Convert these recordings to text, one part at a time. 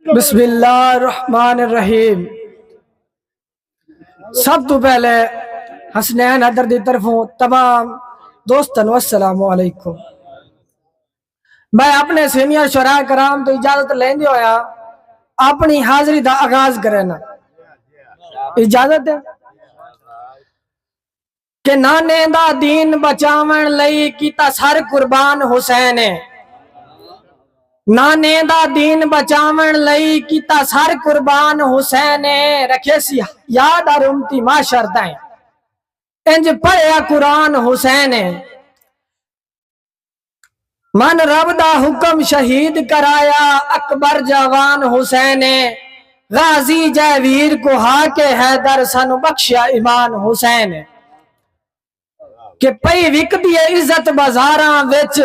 بسم اللہ الرحمن الرحیم سب تو پہلے حسنین حدر دی طرفوں تمام دوستن والسلام علیکم میں اپنے سینئر شراء کرام تو اجازت لین دی ہویا اپنی حاضری دا آغاز کرنا اجازت ہے کنانیں دا دین بچاون لئی کیتا سر قربان حسین ہے نانے دا دین بچاون لئی کیتا سر قربان حسین رکھے سی یاد اور امتی معاشر تائیں انج پڑھیا قرآن حسین من رب دا حکم شہید کرایا اکبر جاوان حسین غازی جے ویر کو ہا کے حیدر سانو بخشیا ایمان حسین کہ پئی وکدی عزت بازاراں وچ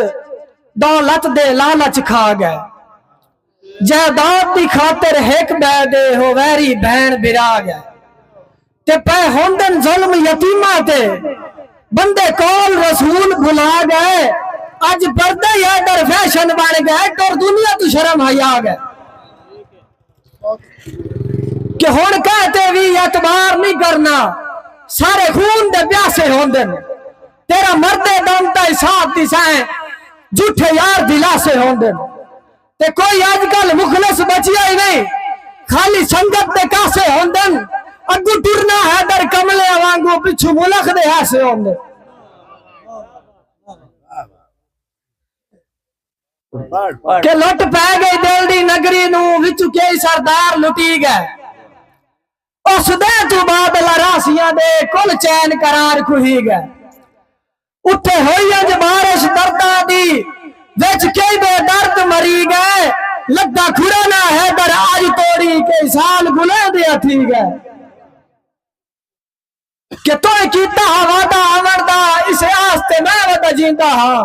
دولت دے لالچ کھا گئے جائیداد دی خاطر ہک ٻئے دے او ویری بھیݨ بھرا ڳئے تے پئے ہوندن ظلم یتیماں تے بندے قول رسول بھلا ڳئے اڄ پردے ہی آرڈر فیشن بݨ ڳئے ٹر دنیا توں شرم حیا ڳئے کہ ہݨ کہہ تے وی اعتبار نی کرنا سارے خون دے پیاسے ہوندن تیرا مردے دم تئیں ساتھ ݙیسائیں جھوٹے یار دلاسے ہوندن۔ تے کوئی اج کل مخلص بچیا ہی نہیں خالی سنگت دے کاسے ہوندن اگو ٹرنا ہے در کملے وانگو پچھو ملخ دے ہاسے ہوندے کہ لٹ پہ گئی دل دی نگری نو وچو کئی سردار لٹی گئے اس دے تو بعد لراسیاں دے کل چین قرار کھوئی گئے اتے ہوئی انج بارش درداں دی وچ کئی بے درد مری گئے لگدا کھڑا نہ حیدر اج توڑی کئی سال گلیں دیاں تھی گئے کہ تو کیتا ہا وعدہ آوڑ دا اسے آستے میں وعدہ جیندا ہاں